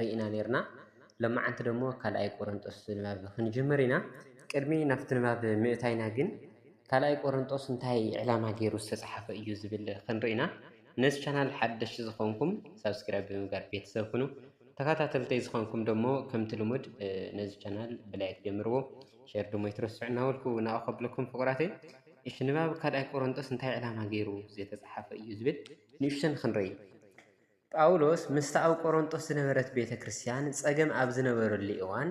ርኢና ኔርና ሎማዓንቲ ደሞ ካልኣይ ቆረንጦስ ንባብ ክንጅምር ኢና ቅድሚ ናብቲ ንባብ ምእታይና ግን ካልኣይ ቆረንጦስ እንታይ ዕላማ ጌሩ ዝተጻሓፈ እዩ ዝብል ክንርኢ ኢና ነዚ ቻናል ሓደሽቲ ዝኾንኩም ሳብስክራይብ ብምግባር ቤተሰብ ኩኑ ተኻታተልተይ ዝኾንኩም ደሞ ከምቲ ልሙድ ነዚ ቻናል ብላይክ ጀምርዎ ሸር ደሞ ይትረስዑ እናበልኩ ናኡ ከብለኩም ፍቁራተይ እሺ ንባብ ካልኣይ ቆረንጦስ እንታይ ዕላማ ጌሩ ዝተጻሓፈ እዩ ዝብል ንእሽተን ክንርኢ ጳውሎስ ምስታ ኣብ ቈረንቶስ ዝነበረት ቤተ ክርስትያን ጸገም ኣብ ዝነበረሉ እዋን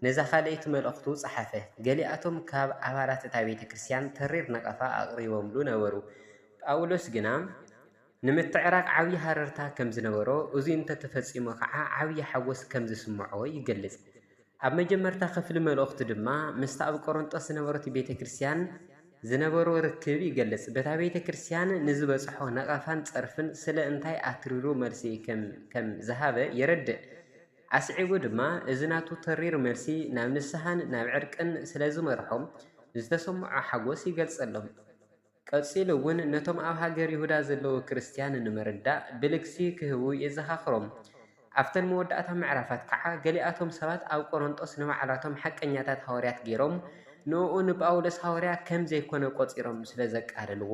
ነዛ ኻልኣይቲ መልእኽቱ ጸሓፈ። ገሊኣቶም ካብ ኣባላት እታ ቤተ ክርስትያን ተሪር ነቐፋ ኣቕሪቦምሉ ነበሩ። ጳውሎስ ግና ንምትዕራቕ ዓብዪ ሃረርታ ከም ዝነበሮ፣ እዙይ እንተ ተፈጺሙ ኸኣ ዓብዪ ሓጐስ ከም ዝስምዖ ይገልጽ። ኣብ መጀመርታ ኽፍሊ መልእኽቱ ድማ ምስታ ኣብ ቈረንጦስ ዝነበረቶ ቤተ ክርስትያን ዝነበሮ ርክብ ይገልጽ። በታ ቤተ ክርስትያን ንዝበጽሖ ነቐፋን ጸርፍን ስለ እንታይ ኣትሪሩ መልሲ ኸም ዝሃበ የረድእ። ኣስዒቡ ድማ እዚ ናቱ ተሪር መልሲ ናብ ንስሓን ናብ ዕርቅን ስለ ዝመርሖም ዝተሰምዖ ሓጐስ ይገልጸሎም። ቀጺሉ እውን ነቶም ኣብ ሃገር ይሁዳ ዘለዉ ክርስትያን ንምርዳእ ብልግሲ ኺህቡ የዘኻኽሮም። ኣብተን መወዳእታ ምዕራፋት ከኣ ገሊኣቶም ሰባት ኣብ ቈረንቶስ ንባዕላቶም ሓቀኛታት ሃዋርያት ገይሮም ንእኡ ንጳውሎስ ሃዋርያ ከም ዘይኰነ ቈጺሮም ስለ ዘቃለልዎ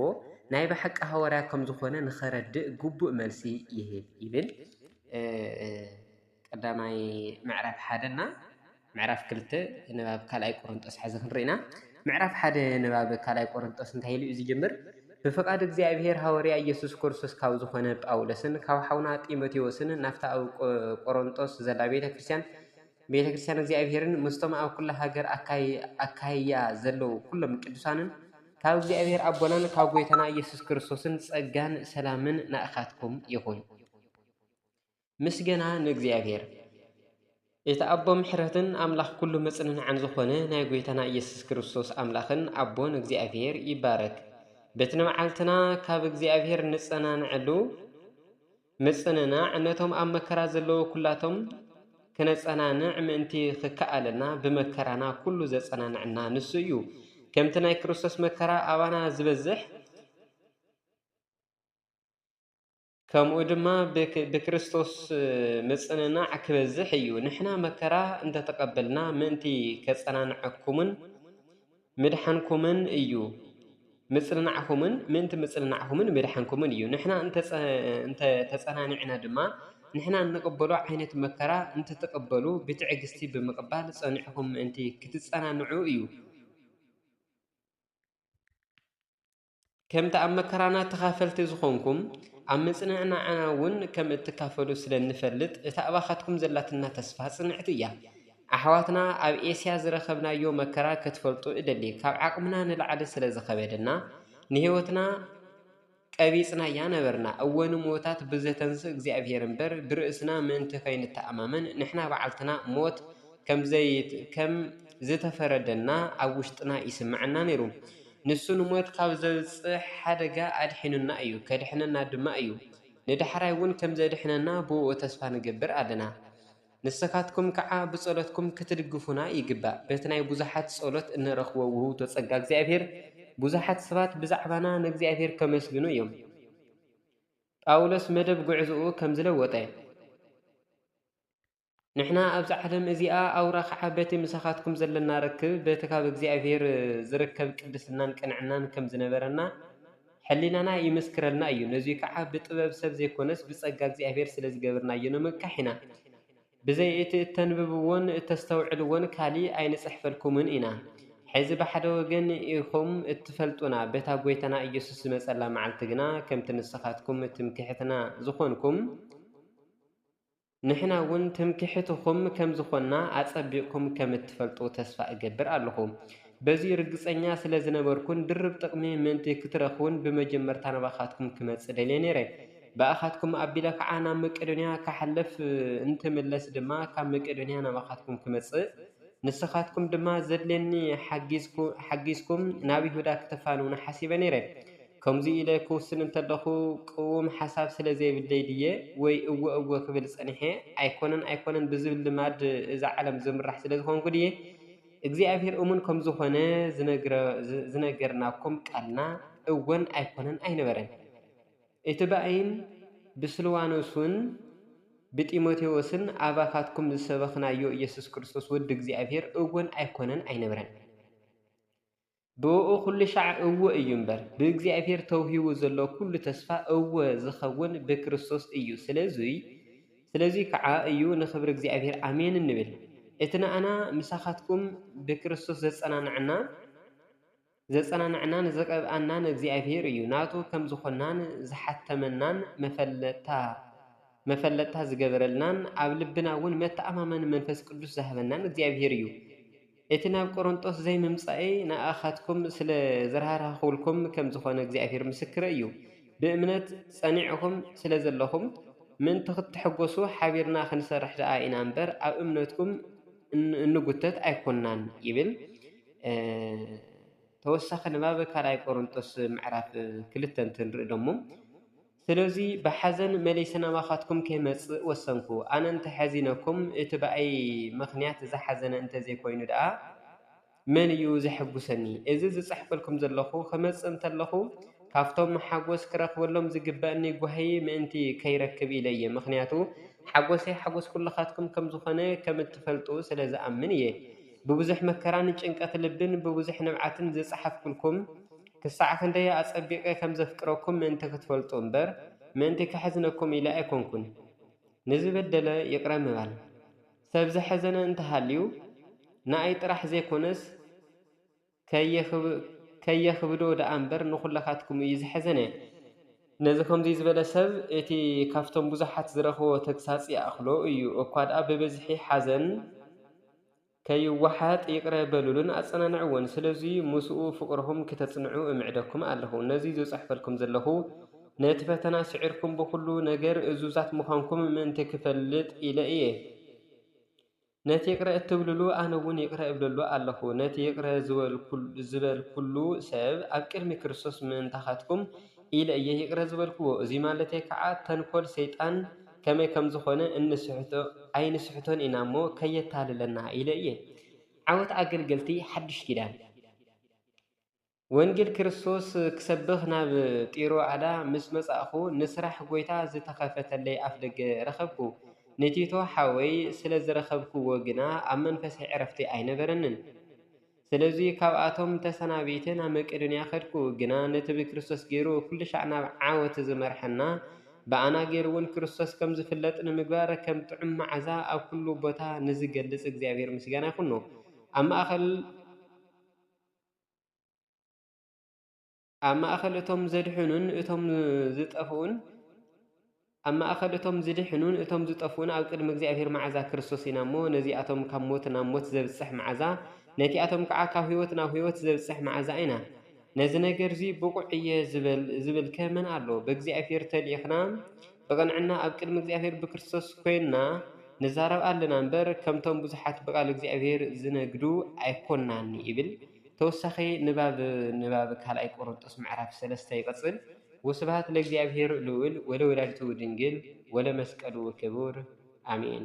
ናይ ብሓቂ ሃዋርያ ከም ዝዀነ ንኸረድእ ግቡእ መልሲ ይህብ ይብል። ቀዳማይ ምዕራፍ ሓደ እና ምዕራፍ ክልተ ንባብ ካልኣይ ቆሮንጦስ ሓዚ ክንርኢና ምዕራፍ ሓደ ንባብ ካልኣይ ቆሮንጦስ እንታይ ኢሉ እዩ ዝጅምር ብፍቓድ እግዚኣብሔር ሃወርያ ኢየሱስ ክርስቶስ ካብ ዝኾነ ጳውሎስን ካብ ሓውና ጢሞቴዎስን ናፍታ ኣብ ቆሮንጦስ ዘላ ቤተ ክርስቲያን ቤተ ክርስቲያን እግዚኣብሔርን ምስቶም ኣብ ኩላ ሃገር ኣካይያ ዘለዉ ኩሎም ቅዱሳንን ካብ እግዚኣብሔር ኣቦናን ካብ ጐይታና ኢየሱስ ክርስቶስን ጸጋን ሰላምን ናእኻትኩም ይኹን። ምስገና ንእግዚኣብሔር እቲ ኣቦ ምሕረትን ኣምላኽ ኩሉ መጽንናዕን ዝኾነ ናይ ጐይታና ኢየሱስ ክርስቶስ ኣምላኽን ኣቦን እግዚኣብሔር ይባረክ። በቲ ንመዓልትና ካብ እግዚኣብሔር እንጸናንዐሉ ምጽንናዕ ነቶም ኣብ መከራ ዘለዉ ኩላቶም ክነጸናንዕ ምእንቲ ክከኣለና ብመከራና ኩሉ ዘጸናንዐና ንሱ እዩ። ከምቲ ናይ ክርስቶስ መከራ ኣባና ዝበዝሕ ከምኡ ድማ ብክርስቶስ ምጽንናዕ ክበዝሕ እዩ። ንሕና መከራ እንተ ተቐበልና ምእንቲ ከጸናንዐኩምን ምድሓንኩምን እዩ። ምጽንናዕኩምን ምእንቲ ምጽንናዕኩምን ምድሓንኩምን እዩ። ንሕና እንተ ተጸናኒዕና ድማ ንሕና እንቕበሎ ዓይነት መከራ እንትትቕበሉ ብትዕግስቲ ብምቕባል ጸኒዕኩም ምእንቲ ክትጸናንዑ እዩ። ከምቲ ኣብ መከራና ተኻፈልቲ ዝኾንኩም ኣብ ምጽንዕናዕና እውን ከም እትካፈሉ ስለ እንፈልጥ እታ ኣባኻትኩም ዘላትና ተስፋ ጽንዕቲ እያ። ኣሕዋትና ኣብ ኤስያ ዝረኸብናዮ መከራ ክትፈልጡ እደሊ፣ ካብ ዓቕምና ንላዕሊ ስለ ዝኸበደና ንህይወትና ቀቢጽናያ ነበርና፣ እወ ንሙዉታት ብዘተንስእ እግዚኣብሔር እምበር ብርእስና ምእንቲ ከይንተኣማመን ንሕና ባዕልትና ሞት ከም ዝተፈረደና ኣብ ውሽጥና ይስምዐና ነይሩ። ንሱ ንሞት ካብ ዘብጽሕ ሓደጋ ኣድሒኑና እዩ፣ ከድሕነና ድማ እዩ። ንዳሕራይ እውን ከም ዘድሕነና ብእኡ ተስፋ ንገብር ኣለና። ንስኻትኩም ከኣ ብጸሎትኩም ክትድግፉና ይግባእ። በቲ ናይ ብዙሓት ጸሎት እንረኽቦ ውህብቶ ጸጋ እግዚኣብሔር ብዙሓት ሰባት ብዛዕባና ንእግዚኣብሔር ከመስግኑ እዮም። ጳውሎስ መደብ ጉዕዞኡ ከምዚ ለወጠ። ንሕና ኣብዛ ዓለም እዚኣ ኣውራ ኸዓ በቲ ምሳኻትኩም ዘለና ርክብ በቲ ካብ እግዚኣብሔር ዝርከብ ቅድስናን ቅንዕናን ከም ዝነበረና ሕሊናና ይምስክረልና እዩ። ነዙይ ከዓ ብጥበብ ሰብ ዘይኮነስ ብጸጋ እግዚኣብሔር ስለ ዝገብርናዮ ነመካሕ ኢና። ብዘይ እቲ እተንብብዎን እተስተውዕልዎን ካሊእ ኣይንጽሕፈልኩምን ኢና። ሕዚ ብሓደ ወገን ኢኹም እትፈልጡና በታ ጐይታና ኢየሱስ ዝመጸላ መዓልቲ ግና ከምቲ ንስኻትኩም ትምክሕትና ዝኾንኩም ንሕና እውን ትምክሕትኹም ከም ዝኾንና ኣጸቢቕኩም ከም እትፈልጡ ተስፋ እገብር ኣሎኹ። በዚ ርግጸኛ ስለ ዝነበርኩን ድርብ ጥቕሚ ምእንቲ ክትረኽቡን ብመጀመርታ ናባኻትኩም ክመጽእ ደልየ ነይረ። ብኣኻትኩም ኣቢለ ኸኣ ናብ መቄዶንያ ክሓልፍ እንትምለስ ድማ ካብ መቄዶንያ ናባኻትኩም ክመጽእ ንስኻትኩም ድማ ዘድልየኒ ሓጊዝኩም ናብ ይሁዳ ክተፋንዉኒ ሓሲበ ነይረ። ከምዚ ኢለ ክውስን እንተለኹ ቅዉም ሓሳብ ስለ ዘይብለይ ድየ ወይ እወ እወ ክብል ጸኒሐ ኣይኮነን ኣይኮነን ብዝብል ልማድ እዛ ዓለም ዝምራሕ ስለ ዝኾንኩ ድየ እግዚኣብሄር እሙን ከም ዝኾነ ዝነገርናኩም ቃልና እወን ኣይኮነን ኣይነበረን። እቲ ብኣይን ብስልዋኖስን ብጢሞቴዎስን ኣባኻትኩም ዝሰበኽናዮ ኢየሱስ ክርስቶስ ወዲ እግዚኣብሔር እዎን ኣይኮነን ኣይነበረን። ብእኡ ኩሉ ሻዕ እወ እዩ እምበር፣ ብእግዚኣብሔር ተውሂቡ ዘሎ ኩሉ ተስፋ እወ ዝኸውን ብክርስቶስ እዩ። ስለዙይ ስለዙይ ከዓ እዩ ንኽብሪ እግዚኣብሔር ኣሜን እንብል። እቲ ንኣና ምሳኻትኩም ብክርስቶስ ዘጸናንዐና፣ ዘጸናንዓና ንዘቐብኣናን እግዚኣብሔር እዩ ናቱ ከም ዝኾንናን ዝሓተመናን መፈለጥታ መፈለጥታ ዝገበረልናን ኣብ ልብና ውን መተኣማመኒ መንፈስ ቅዱስ ዝሃበናን እግዚኣብሔር እዩ እቲ ናብ ቆሮንጦስ ዘይምምጻእይ ንኣኻትኩም ስለ ዝራህራህኩልኩም ከም ዝኾነ እግዚኣብሔር ምስክረይ እዩ ብእምነት ጸኒዕኹም ስለ ዘለኹም ምእንቲ ክትሕጎሱ ሓቢርና ክንሰርሕ ደኣ ኢና እምበር ኣብ እምነትኩም እንጉተት ኣይኮንናን ይብል። ተወሳኺ ንባብ ካልኣይ ቆሮንጦስ ምዕራፍ ክልተ እንትንርኢ ደሞ ስለዚ ብሓዘን መሊሰ ናባኻትኩም ከይመጽእ ወሰንኩ። ኣነ እንተ ሐዚነኩም እቲ ብኣይ ምኽንያት ዝሓዘነ እንተ ዘይኮይኑ ደኣ መን እዩ ዘሐጉሰኒ? እዚ ዝጽሕፈልኩም ዘለኹ ክመጽእ እንተለኹ ካብቶም ሓጎስ ክረክበሎም ዝግበእኒ ጓሂ ምእንቲ ከይረክብ ኢለ እየ። ምኽንያቱ ሓጎሰይ ሓጎስ ኩልኻትኩም ከም ዝኾነ ከም እትፈልጡ ስለ ዝኣምን እየ። ብብዙሕ መከራን ጭንቀት ልብን ብብዙሕ ንብዓትን ዝጸሓፍኩልኩም፣ ክሳዕ ክንደይ ኣጸቢቐ ከም ዘፍቅረኩም ምእንቲ ክትፈልጡ እምበር፣ ምእንቲ ከሕዝነኩም ኢለ ኣይኰንኩን። ንዝበደለ ይቕረ ምባል፣ ሰብ ዘሕዘነ እንተ ሃልዩ ንኣይ ጥራሕ ዘይኰነስ፣ ከየኽብዶ ደኣ እምበር ንኹላኻትኩም እዩ ዝሐዘነ። ነዚ ከምዙይ ዝበለ ሰብ እቲ ካብቶም ብዙሓት ዝረኽቦ ተግሳፅ ይኣኽሎ እዩ። እኳ ደኣ ብብዝሒ ሓዘን ከይወሓጥ ይቕረ በሉሉን ኣፀናንዕዎን። ስለዙይ ምስኡ ፍቕርኹም ክተፅንዑ እምዕደኩም ኣለኹ። ነዙይ ዝፅሕፈልኩም ዘለኹ ነቲ ፈተና ስዒርኩም ብኹሉ ነገር እዙዛት ምዃንኩም ምእንቲ ክፈልጥ ኢለ እየ። ነቲ ይቅረ እትብልሉ ኣነ እውን ይቅረ እብለሉ ኣለኹ። ነቲ ይቅረ ዝበልኩሉ ሰብ ኣብ ቅድሚ ክርስቶስ ምእንታኻትኩም ኢለ እየ ይቅረ ዝበልክዎ። እዙይ ማለተይ ከዓ ተንኮል ሰይጣን ከመይ ከም ዝኾነ ኣይንስሕቶን ኢና እሞ ከየታልለና ኢለ እየ። ዓወት ኣገልገልቲ ሓዱሽ ኪዳን! ወንጌል ክርስቶስ ክሰብኽ ናብ ጢሮኣዳ ምስ መጻእኩ፣ ንስራሕ ጐይታ ዝተኸፍተለይ ኣፍደገ ረኸብኩ። ንቲቶ ሓወይ ስለ ዝረኸብክዎ ግና ኣብ መንፈሰይ ዕረፍቲ ኣይነበረንን። ስለዚ፣ ካብኣቶም ተሰናቢተ ናብ መቄዶንያ ከድኩ። ግና ነቲ ብክርስቶስ ገይሩ ኵልሻዕ ናብ ዓወት ዝመርሓና፣ ብኣና ገይሩውን ክርስቶስ ከም ዝፍለጥ ንምግባር፣ ከም ጥዑም መዓዛ ኣብ ኵሉ ቦታ ንዝገልጽ እግዚኣብሔር ምስጋና ይኹኖ። ኣብ ማእከል። ኣብ ማእኸል እቶም ዘድሕኑን እቶም ዝጠፍኡን ኣብ ማእኸል እቶም ዝድሕኑን እቶም ዝጠፍኡን ኣብ ቅድሚ እግዚኣብሔር መዓዛ ክርስቶስ ኢና እሞ ነዚኣቶም ካብ ሞት ናብ ሞት ዘብጽሕ መዓዛ ነቲኣቶም ከዓ ካብ ሕይወት ናብ ሕይወት ዘብጽሕ መዓዛ ኢና ነዚ ነገር እዙይ ብቑዕ እየ ዝበልከ መን ኣሎ ብእግዚኣብሔር ተልኢኽና ብቕንዕና ኣብ ቅድሚ እግዚኣብሔር ብክርስቶስ ኮይንና ንዛረብ ኣለና እምበር ከምቶም ብዙሓት ብቓል እግዚኣብሔር ዝነግዱ ኣይኮናን ይብል። ተወሳኺ ንባብ ንባብ ካልኣይ ቆሮንጦስ ምዕራፍ ሰለስተ ይቕጽል ወስብሃት ለእግዚኣብሔር ልዑል ወለወላዲቱ ድንግል ወለመስቀሉ ክቡር ኣሜን።